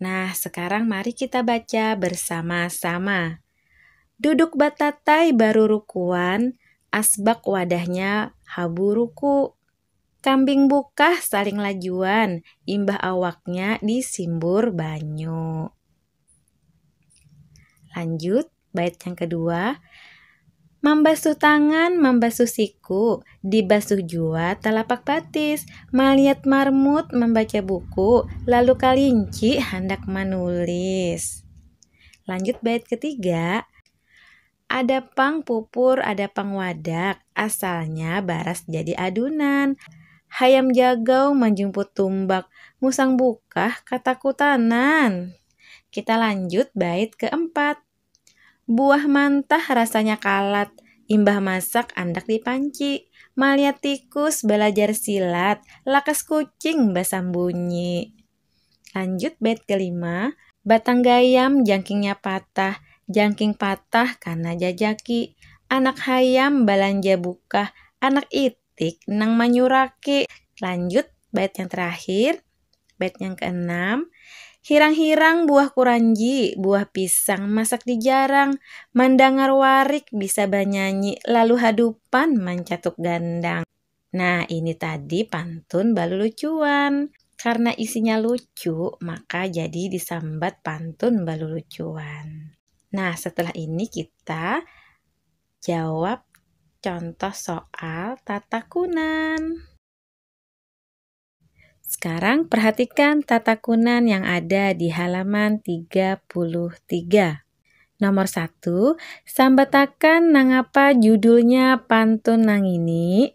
Nah, sekarang mari kita baca bersama-sama. Duduk batatai barurukuan, asbak wadahnya habu ruku. Kambing bukah saling lajuan, imbah awaknya disimbur banyu. Lanjut. Bait yang kedua, Mambasuh tangan, mambasuh siku, dibasuh jua talapak batis, maliat marmut, mambaca buku, lalu kalinci handak manulis. Lanjut bait ketiga, ada pang pupur, ada pang wadak, asalnya baras jadi adunan. Hayam jagau manjumput tumbak, musang bukah katakutanan. Kita lanjut bait keempat. Buah mantah rasanya kalat, imbah masak andak di panci. Maliat tikus balajar silat, lakas kucing basambunyi. Lanjut bait kelima. Batang gayam jangkingnya patah, jangking patah kana jajaki. Anak hayam balanja bukah, anak itu. titik nang manyuraki. Lanjut bait yang terakhir, bait yang keenam. Hirang-hirang buah kuranji, buah pisang masak di jarang, mandangar warik bisa banyanyi lalu hadupan mancatuk gandang. Nah, ini tadi pantun balulucuan. Karena isinya lucu, maka jadi disambat pantun balulucuan. Nah, setelah ini kita Jawab contoh soal tatakunan. Sekarang perhatikan tatakunan yang ada di halaman 33. Nomor 1, sambatakan nangapa judulnya pantun nangini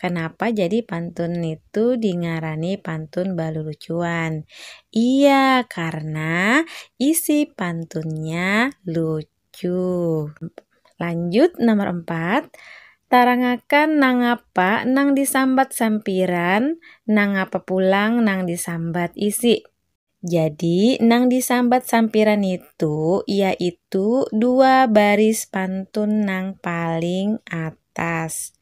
Kanapa jadi pantun nitu dingarani pantun balulucuan? Iya, karna isi pantunnya lucu. Lanjut nomor empat, tarangakan nangapa nang disambat sampiran, nangapa pulang nang disambat isi. Jadi, nang disambat sampiran nitu yaitu dua baris pantun nang paling atas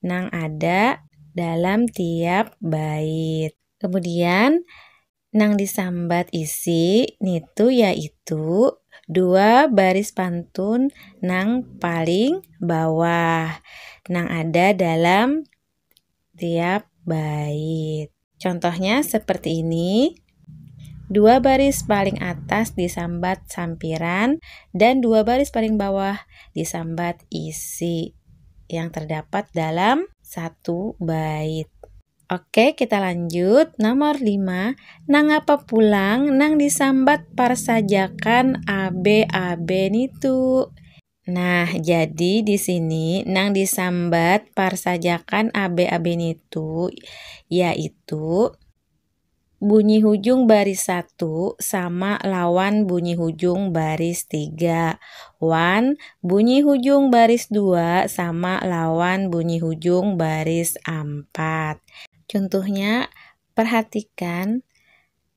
nang ada dalam tiap bait. Kemudian nang disambat isi nitu yaitu dua baris pantun nang paling bawah nang ada dalam tiap bait. Contohnya seperti ini. Dua baris paling atas disambat sampiran dan dua baris paling bawah disambat isi yang terdapat dalam satu bait. Oke, kita lanjut. Nomor 5. Nangapa pulang nang disambat parsajakan abe-abe nitu? Nah, jadi di sini nang disambat parsajakan ab-ab nitu yaitu bunyi hujung baris satu sama lawan bunyi hujung baris tiga wan bunyi hujung baris dua sama lawan bunyi hujung baris ampat. Cuntuhnya, parhatikan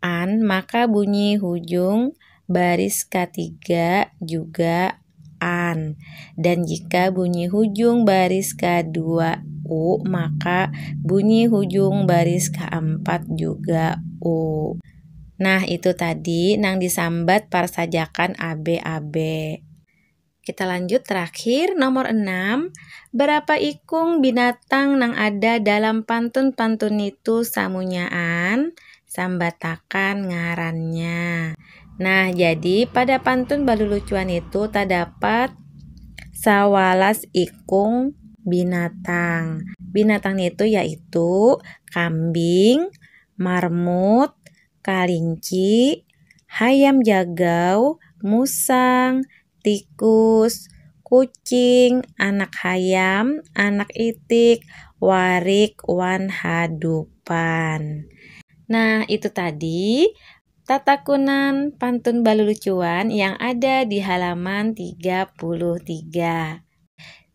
an maka bunyi hujung baris katiga juga an dan jika bunyi hujung baris kedua u maka bunyi hujung baris keempat juga u. Nah itu tadi nang disambat parsajakan abe-abe. Kita lanjut terakhir nomor enam Berapa ikung binatang nang ada dalam pantun-pantun nitu samunyaan sambatakan ngarannya. Nah, jadi pada pantun balulucuan itu terdapat sawalas ikung binatang. Binatang itu yaitu kambing, marmut, kalinci, hayam jagau, musang, tikus, kucing, anak hayam, anak itik, warik, wan hadupan. Nah, itu tadi tatakunan pantun balulucuan yang ada di halaman 33.